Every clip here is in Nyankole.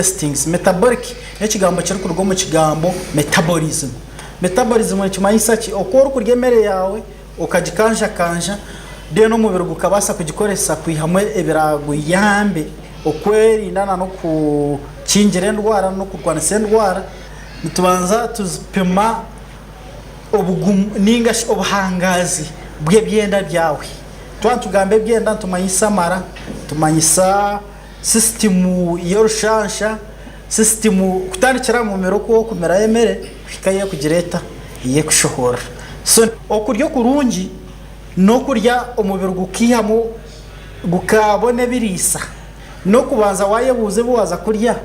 Hastings, metabolic n'ekigambo kirikuruga omu kigambo metabolism. Metabolism nikimanyisa ki? Oku orikurya emere yaawe okagikanjakanja reero omubiri gukabaasa kugikoresa kwihamu ebiraguyambe okwerinda nana okukingira endwara n'okurwanisa endwara. Nitubanza tupima obugumu ninga shi obuhangaazi bw'ebyenda byawe. Twaba nitugamba ebyenda nitumanyisa amara, nitumanyisa... Sisitimu y'orushansha, Sisitimu kutandikira aha mumera oku okumiraho emere kuhika ei ekugira eta? Ei ekushohorera. So, okurya okurungi n'okurya omubiri gukaihamu gukabona ebiriisa n'okubanza waayebuuza ebi waaza kurya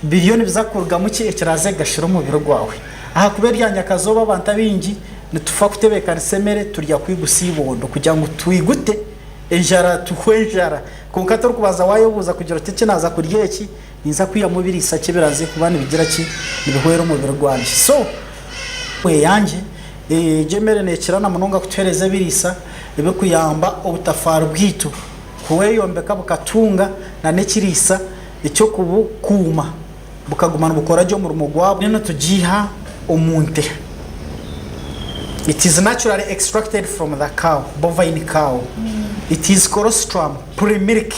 biriyo nibiza kurugamu ki ekiraaze kugashira omubiri gwawe. Ahakuba erya nyakazooba abantu abaingi nitufa kutebeekanisa emere turya kuhigusa eibondo kugira ngu twigute enjara tuhwe enjara. Kwonka torikubanza waayebuuza kugira oti, Eki naaza kurya eki ninza kwihamu ebiriisa ki ebiraze kuba nibigira ki? Nibihwera omubiri gwangye? So eyangye, egyo emere neekira na munonga kutuheereza ebiriisa ebirikuyamba obutafaari bwaitu kweyombeka bukatunga n'ekiriisa eky'okubukuuma. bukaguma nibukora gye omurimo gwabwo. Enu nitugiiha omu nte. It is naturally extracted from the cow, bovine cow. It is colostrum, pre-milk,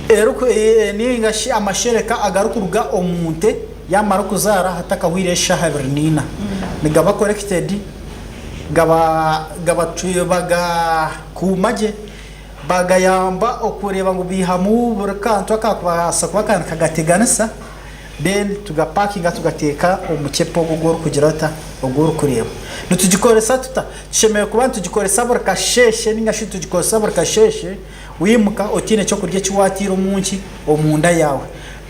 eriku eh, ninga shi amashereka agarikuruga omu nte yaamara okuzaara hatakahwire eshaaha ibiri naina. Nigaba collected, gaba, gaba, tu, bagakuuma gye. Bagayamba okureeba ngu baihamu buri kantu akakubaasa kuba ka nikagateganisa, then tugapakinga tugateeka omu mucepe ogu ogu orikugira ota, ogu orikureeba. Nitugikoresa tuta? Tushemereire kuba nitugikoresa buri kasheeshe nainga shi nitugikoresa buri kasheeshe waimuka otaine ekyokurya eki waataire omu nki? Omu nda yaawe.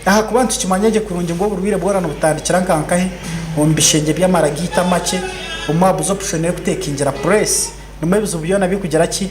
Ahakuba nitukimanya gye kurungi ngu oburwaire bwoona nibutandikira nka nkahi? Omu bishengye by'amara gaitu amakye, omu aha buzopushoni erikutekingira, press, nimwo ebizibu byoona birikugira ki?